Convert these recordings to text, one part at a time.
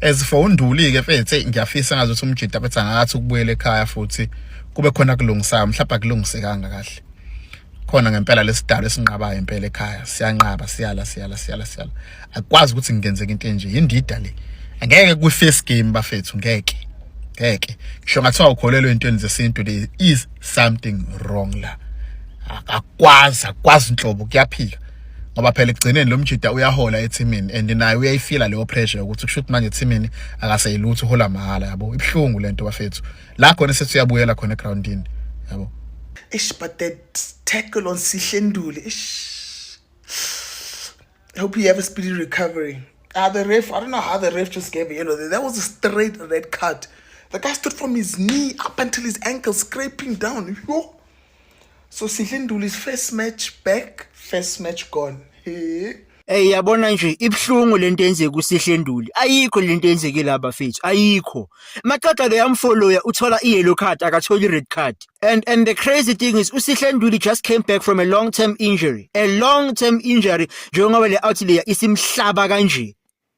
as for unduli ke mfethu ngiyafisa ngazi ukuthi umjita bethi angakathi ukubuyela ekhaya futhi kube khona kulungisayo mhlawumbe akulungisekanga kahle khona ngempela lesidalo esinqabayo impela ekhaya siyanqaba siyala siyala siyala siyala akwazi ukuthi ngenzeke into enje yindida le angeke kwi first game bafethu ngeke ngeke ngisho ngathiwa ukholelwe entweni zesintu there is something wrong la akwazi akwazi inhlobo kuyaphika ngoba phela ekugcineni lo mjida uyahola ethimini and naye uyayifila leyo pressure ukuthi kusho ukuthi manje ethimini akaseyilutho uhola mahhala yabo ibuhlungu lento bafethu la khona sethi uyabuyela khona egroundini yabo ish but that tackle on sihle nduli ish i hope you have a speedy recovery Ah, uh, the ref, I don't know how the ref just gave a yellow. That was a straight red card. The guy stood from his knee up until his ankle, scraping down. Yo. so sihle nduli is first match back first match gone hey Hey yabona nje ibhlungu lento enzeka usihle nduli ayikho lento enzeke la bafethu ayikho maqaqa ke yamfollower uthola i yellow card akatholi red card and and the crazy thing is usihle nduli just came back from a long term injury a long term injury njengoba le out leya isimhlaba kanje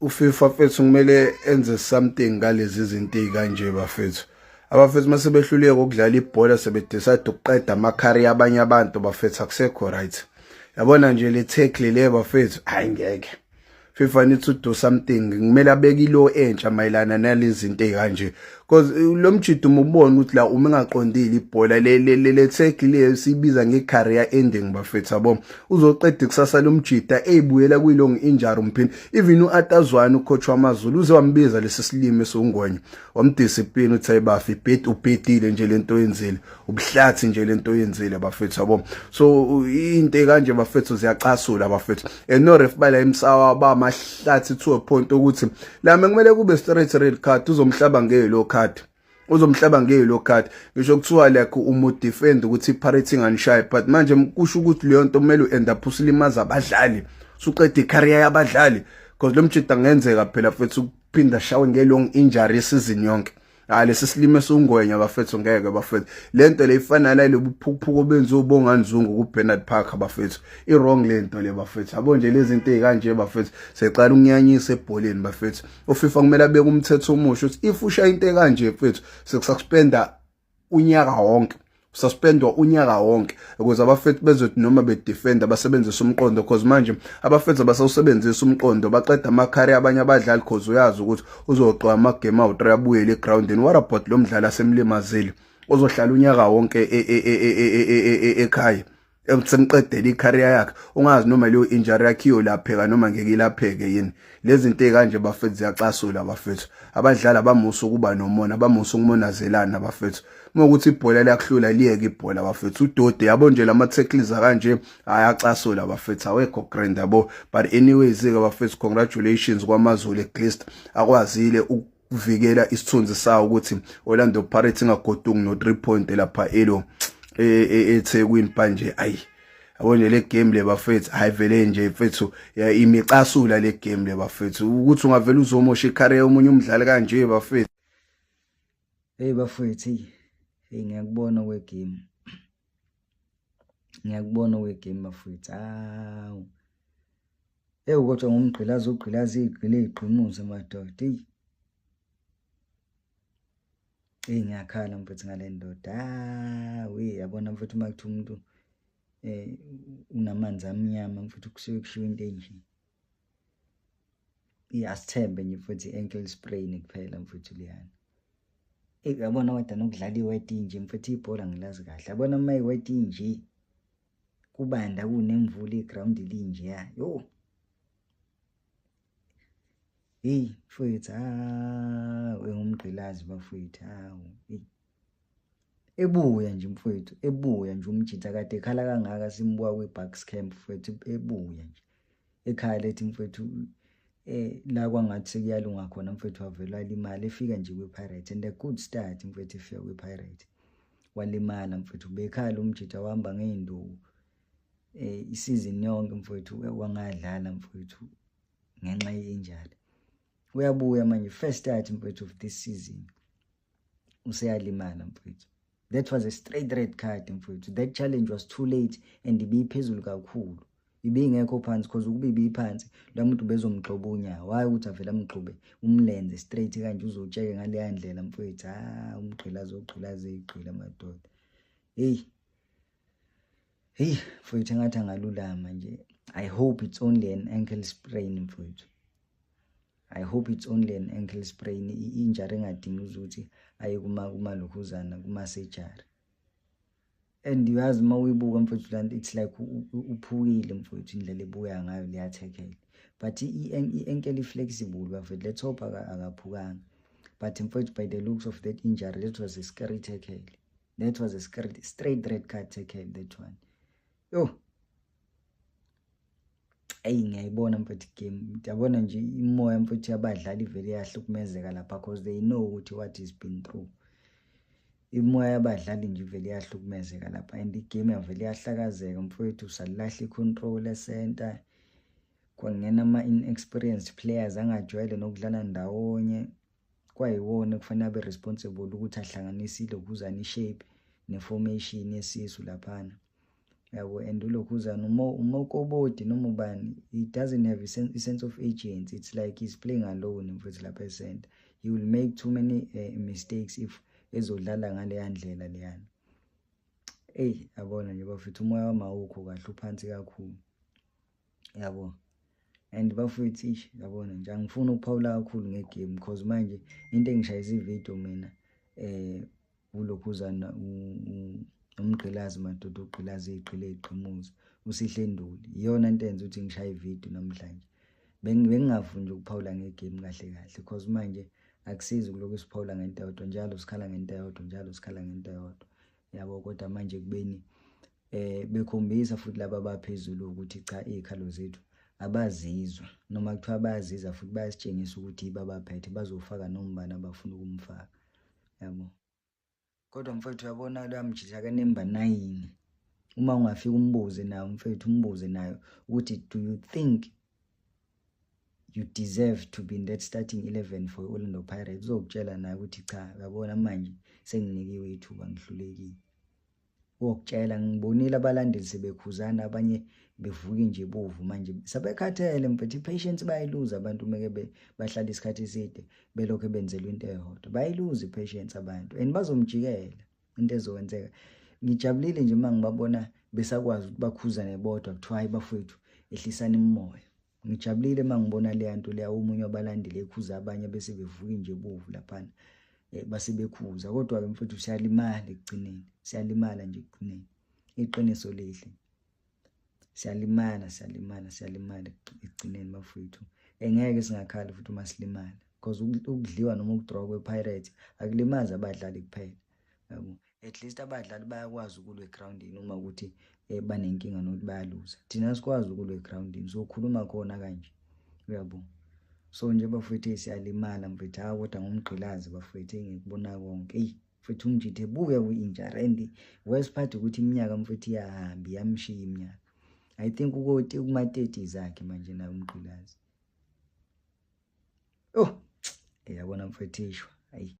uFifa fethu kumele enze something ngalezi zinto ezikanje bafethu abafethu mase behluleke ukudlala ibhola sebedecide ukuqeda amakhari abanye abantu bafethu akusekho right yabona nje le tackle le bafethu hayi ngeke FIFA needs to do something kumele abeke ilo entsha mayelana nalezi zinto ezikanje because eh, lo mjidi uma ubona ukuthi la uma engaqondile ibhola le tag le sibiza nge-career ending bafethu yabo uzoqeda ikusasa lo mjida eyibuyela kwi-long injury umphini even u-atazwane ucoach wamazulu uze wambiza lesi silimi esiwungonya wamdiscipline uthi ayibafi ubhedile nje le nto oyenzile ubuhlathi nje lento oyenzile bafethu yabo so into kanje bafethu ziyacasula bafethu and no ref bala imsawa ba mahlathi to a point ukuthi lame kumele kube straight red card uzomhlaba ngelo card uzomhlaba ngelo card ngisho kuthiwa like umu defend ukuthi parity nganishaye but manje kusho ukuthi leyo nto kumele uend up usilimaza abadlali suqede icareer yabadlali because lo mjita ngenzeka phela futhi ukuphinda shawe ngelong injury season yonke hayi lesi silimo esungwenya bafethu ngeke bafethu lento le ifana nale buphukuphuku benza ubonganzungu ku Bernard Park bafethu i wrong lento le bafethu yabo nje lezi zinto ezikanje bafethu seqala ukunyanyisa ebholeni bafethu uFifa kumele abeke umthetho omusha uthi if usha into ekanje mfethu sekususpenda unyaka wonke suspendwa unyaka wonke ukuze abafethu bezothi noma bedefenda basebenzise umqondo because manje abafethu abasawusebenzisa umqondo baqeda amakhari abanye abadlali because uyazi ukuthi uzoqoqa amagame awu-3 abuyele egroundini what about lo mdlali asemlimazile ozohlala unyaka wonke ekhaya seniqedele icareer yakhe ungazi noma leyo injury yakhe iyolapheka noma ngeke ilapheke yini lezi zinto ezikanje bafethu ziyacasula bafethu abadlali abamusa ukuba nomona abamusa ukumonazelana bafethu uma ukuthi ibhola liyakuhlula liyeke ibhola bafethu udode yabo nje lama tackles akanje ayacasula bafethu awekho grand yabo but anyways ke bafethu congratulations kwamazulu at least akwazile kuvikela isithunzi sawo ukuthi Orlando Pirates ingagoduki no 3 point lapha elo e, e, eThekwini manje ayi yabona le game le bafethu hayivele nje mfethu imicasula le game le bafethu ukuthi ungavela uzomosha icareer omunye umdlali kanje bafethu hey bafethu hey ngiyakubona we game ngiyakubona we game bafethu awu Ewu kodwa ngumgqilazi ogqilazi igqile igqimuze madoda. Eyi. Eyi ngiyakhala mfethu ngale ndoda. Ah, we yabona mfethu uma kuthi umuntu eh unamanzi amnyama mfethu kusuke kushiwo into enje. Iyasithembe nje mfethu i-ankle sprain kuphela mfethu liyana. Eyi yabona kodwa nokudlala iweti nje mfethu ibhola ngilazi kahle. Yabona uma iweti nje. kubanda kunemvula iground linjeya yo heyi mfowethu hawu engumgqilazi bafowethu hawu heyi ebuya nje mfowethu ebuya nje umjitha kade ekhala kangaka simbuka kwi-bucks camp mfowethu ebuya nje ekhaya lethi mfethu eh la kwangathi sekuyalunga khona mfethu wavelwa imali efika nje kwiPirates and a good start mfethu efika kwiPirates walimala mfethu bekhala umjita wahamba ngeinduku eh isizini yonke mfethu wangadlala mfethu ngenxa yenjalo uyabuya manje first start mfethu of this season useyalimala mfowethu that was a straight red card mfowethu that challenge was too late and ibiyiphezulu kakhulu ibingekho phansi cause ukuba ibiyiphansi la muntu bezomgxoba unyawo hhayi ukuthi avele amgxobe umlenze straight kanje uzotsheke ngaleya ndlela mfowethu ha ah, umgqila azogqila azeyigqila amadoda heyi heyi mfowethu engathi angalulama nje i hope it's only an ankle sprain mfowethu I hope it's only an ankle sprain injury engadingi ukuthi aye kuma kumalokhuzana kuma surgery and uyazi uma uyibuka mfowethu lanto it's like uphukile mfowethu indlela ebuya ngayo liyathekela but i-ankle i-flexible bafethu let's hope akaphukanga but mfowethu by the looks of that injury that was a scary tackle that was a scary straight red card tackle that one yo eyi ngiyayibona mfethu game ndiyabona nje imoya mfethu yabadlali ivele iyahlukumezeka lapha because they know ukuthi what is been through imoya yabadlali nje ivele iyahlukumezeka lapha and igame yavele iyahlakazeka mfowethu salilahla i-control e-center kwangena ama-inexperienced players angajwayele nokudlala ndawonye kwayiwona kufanele abe responsible ukuthi ahlanganisile ukhuzane ishape neformation yesisu laphana yabo and ulokhuzana umokoboti noma ubani he doesn't have a sense of agency it's like he's playing alone mfethu lapha esenta he will make too many uh, mistakes if ezodlala ngaleya ndlela leyana eyi yabona nje bafethu umoya wamawukho kahle uphansi kakhulu yabo and bafowethu ish yabona nje angifuni ukuphawula kakhulu ngegame because manje into engishayisa ividiyo mina um ulokhuzana umgqilazi madoda ugqilazi igqile igqimuza usihle nduli iyona nto enza ukuthi ngishaye ividiyo namhlanje bengingafuni nje ukuphawula ngegame kahle kahle because manje akusizi ukulokhu siphawula ngento yodwa njalo sikhala ngento yodwa njalo sikhala ngento yodwa yabo kodwa manje kubeni eh bekhombisa futhi laba abaphezulu ukuthi cha izikhalo zethu abazizwa noma kuthiwa bayaziza futhi bayasitshengisa ukuthi babaphethe bazofaka nombani abafuna ukumfaka yabo kodwa mfethu uyabona luyamjija kanemba nayini uma ungafika umbuze nayo mfethu umbuze nayo ukuthi do you think you deserve to be in that starting 11 for Orlando Pirates uzokutshela naye ukuthi cha uyabona manje senginikiwe ithuba ngihlulekile Ngokutshela ngibonile abalandeli sebekhuzana abanye bevuke nje bovu manje sebekhathele mfethu i-patience bayiluza abantu meke bahlala isikhathi eside belokhu benzelwa into eyodwa bayiluza i-patience abantu and bazomjikela into ezokwenzeka ngijabulile nje uma ngibabona besakwazi ukuthi bakhuzane bodwa kuthiwa hayi bafowethu ehlisani imimoya Ngijabulile uma ngibona leya nto leya omunye wabalandeli ekhuza abanye bese bevuka nje bovu laphana eh, base bekhuza kodwa-ke mfowethu siyalimala ekugcineni siyalimala nje ekugcineni iqiniso lihle siyalimala siyalimala siyalimala ekugcineni bafowethu engeke singakhala futhi uma silimala because ukudliwa noma ukudrowa kwe-pirate akulimazi abadlali kuphela at least abadlali bayakwazi ukulwa egroundini uma ukuthi eh, banenkinga nokuthi bayaluza thina sikwazi ukulwa egroundini sokhuluma khona kanje uyabo so nje bafethu siyalimala mfethu hawu kodwa ngomgqilazi bafethu engikubona konke eyi mfethu umjithe buke kwi-injara and worst part ukuthi iminyaka mfethu iyahamba iyamshiya iminyaka i think ukoti kuma-thirty zakhe manje naye umgqilazi oh yabona mfethu ishwa ayi